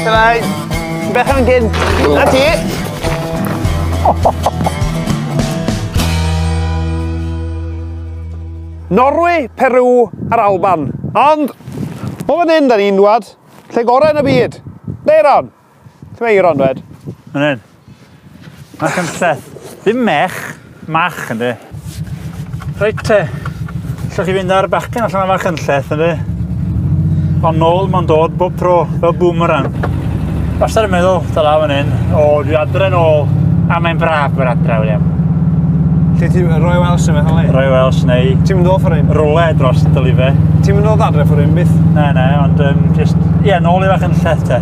Try. Beth yn gyd. Na ti. Norwy, Peru a'r Alban. Ond, o fan hyn da ni'n dwad, lle gorau yn y byd. Leiron. Lle mae Eiron, dwed? Fan hyn. Mae'n cymsell. Ddim mech, mach ynddi. Reit te, allwch chi fynd ar bachgen allan yma cynlleth ynddi. Ond nôl mae'n dod bob tro, fel boomerang. Wastad yn meddwl, da la fan hyn, o, dwi adre nôl, a mae'n braf bod adre, William. Lle ti, Roy Welsh yn meddwl ei? Roy Welsh neu... Ti'n mynd o ffwr un? Rwle dros dylife. Ti'n mynd o ddadre ffwr un byth? Na, na, ond um, just, ie, yeah, nôl i fach yn lleth te.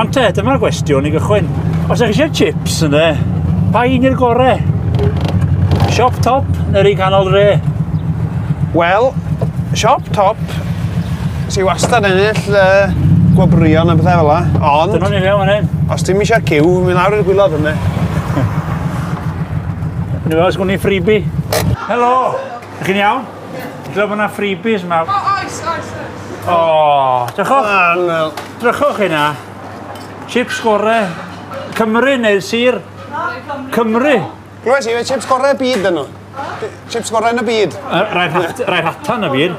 Ond te, dyma'r gwestiwn i gychwyn. Os ydych eisiau chips yn dde, pa un i'r gore? Siop top neu'r un canol dre? Wel, siop top sy'n wastad yn ennill uh, gwobrion a bethau fel la. Ond... Dyna ni fewn yn hyn. Os ti'n eisiau cyw, mynd lawr i'r gwylod yna. Yn ymwneud, sgwn i'n ffribi. Helo! Ych chi'n iawn? Dwi'n bod yna ffribis yma. O, oes, oes, oes. O, drychwch. Drychwch hynna. Chips gore. Cymru neu'r sir? Cymru. Rwy'n siarad chips gorau byd dyn nhw. Chips gorau yn y byd. Rhaid hatan y byd.